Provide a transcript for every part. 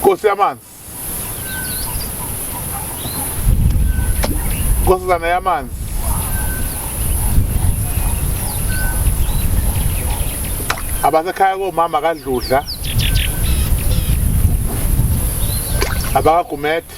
Nkosi yamanzi. Nkosazana yamanzi. Abasekhaya komama kadludla. Abakagumethi.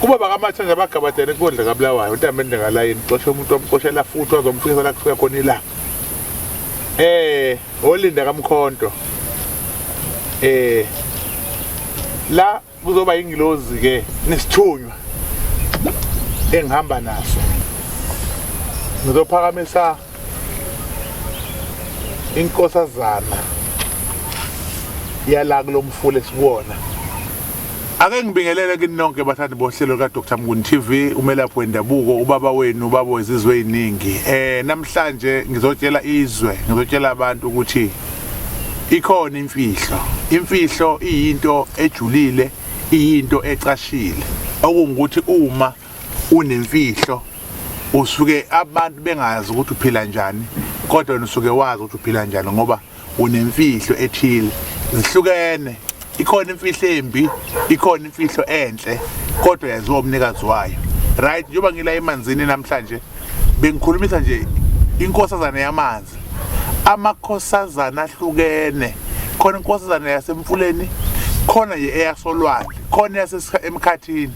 kuba bakamatha nje abagabadele kondla kabulawayo untambende ngalayini uxoshe umuntu omxoshela futhi wazomfikisa la kufika khona ilanga eh olinda kamkhonto eh la kuzoba ingilozi ke nesithunywa engihamba naso ngizophakamisa inkosazana yala kulomfula esikuwona ake ngibingelele kini nonke bathandi bohlelo lika-dr mnguni tv umelaphi wendabuko ubaba wenu ubaba wezizwe eyiningi um eh, namhlanje ngizotshela izwe ngizotshela abantu ukuthi ikhona imfihlo imfihlo iyinto ejulile iyinto ecashile okungukuthi uma unemfihlo usuke abantu bengazi ukuthi uphila njani kodwa wena usuke wazi ukuthi uphila njani ngoba unemfihlo ethile zihlukene ikhona imfihlo embi ikhona imfihlo enhle kodwa yaziwa umnikazi wayo right njengoba ngila emanzini namhlanje bengikhulumisa nje inkosazana yamanzi amakhosazana ahlukene khona inkosazana yasemfuleni khona ye eyasolwandle khona yasemkhathini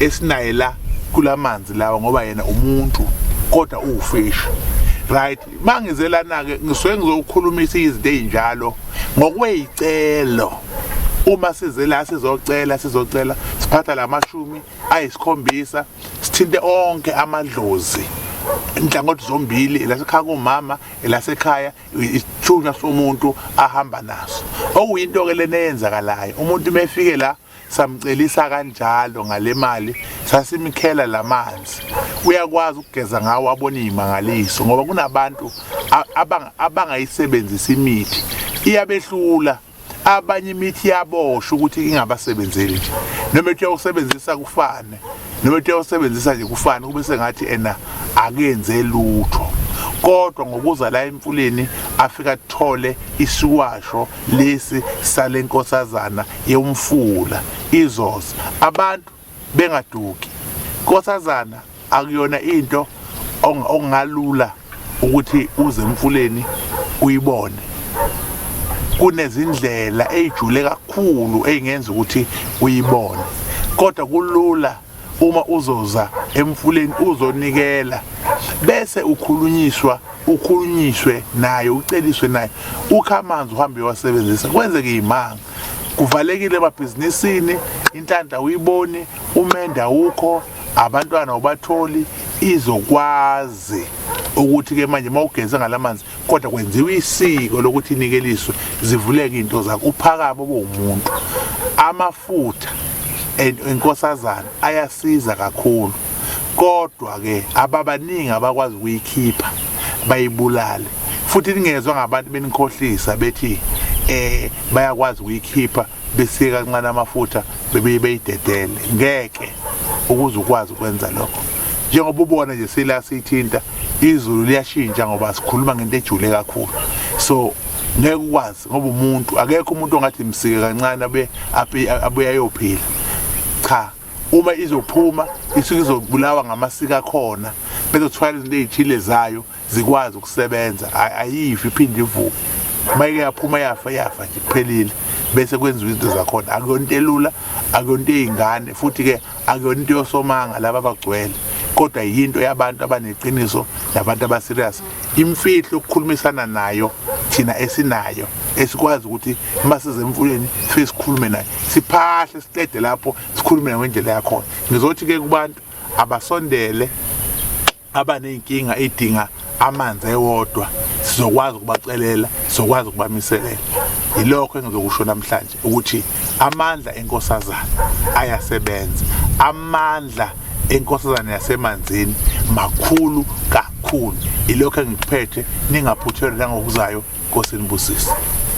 esinaye la kulamanzi lawa ngoba yena umuntu kodwa uwufishi right mangizelana-ke ngisuke ngizokhulumisa izinto ey'njalo ngokwey'celo uma size la sizocela sizocela siphatha la mashumi ayisikhombisa sithinte onke amadlozi inhlangothi zombili elasekhaya kumama elasekhaya isithunywa somuntu ahamba naso okuyinto-ke lena eyenzakalayo umuntu uma efike la samcelisa kanjalo ngale mali sasimkhela lamanzi uyakwazi ukugeza ngawo abona imangaliso ngoba kunabantu abangayisebenzisa imithi iyabehlula abanye imithi yabosha ukuthi ingabasebenzeli nje noma ethi uyawusebenzisa kufane noma ethi uyawusebenzisa nje kufane kube sengathi ena akenze lutho kodwa ngokuza la emfuleni afika athole isiwasho lesi sale nkosazana yomfula izoza abantu bengaduki nkosazana akuyona into ongalula ukuthi uze emfuleni uyibone kunezindlela eyijule kakhulu eyingenza ukuthi uyibone kodwa kulula uma uzoza emfuleni uzonikela bese ukhulunyiswa ukhulunyiswe naye uceliswe naye ukha amanzi uhambe wasebenzisa kwenzeke imanga kuvalekile emabhizinisini inhlanhla uyiboni umende awukho abantwana ubatholi izokwazi ukuthi-ke manje uma ugeze ngalamanzi kodwa kwenziwa isiko lokuthi inikeliswe zivuleke into zakho uphakama obowumuntu amafutha enkosazana ayasiza kakhulu kodwa ke ababaningi abakwazi ukuyikhipha bayibulale futhi ningezwe ngabantu benikhohlisa bethi eh bayakwazi ukuyikhipha besiye kancane amafutha bebiye beyidedele ngeke ukuze ukwazi ukwenza lokho njengoba ubona nje sila sithinta izulu liyashintsha ngoba sikhuluma ngento ejule kakhulu so ngeke ukwazi ngoba umuntu akekho umuntu ongathi msike kancane abe abuye ayophila cha uma izophuma isuke izobulawa ngamasika khona bezothwala izinto ezithile zayo zikwazi ukusebenza ayifi iphinde ivuke uma ike yaphuma yafa yafa nje kuphelile bese kwenziwa izinto zakhona akuyona into elula akuyona into ey'ngane futhi-ke akuyona into yosomanga laba abagcwele kodwa yinto yabantu abaneqiniso nabantu abaserious imfihlo ukukhulumisana nayo thina esinayo esikwazi ukuthi uma size emfuleni sife sikhulume nayo siphahle siqede lapho sikhulume nayo ngendlela yakhona ngizothi-ke kubantu abasondele abaney'nkinga edinga amanzi ewodwa sizokwazi ukubacelela sizokwazi ukubamiselela yilokho engizokusho namhlanje ukuthi amandla enkosazana ayasebenza amandla enkosazana yasemanzini makhulu kakhulu ilokho engikuphethe ningaphuthelwa nangokuzayo nkosi nibusise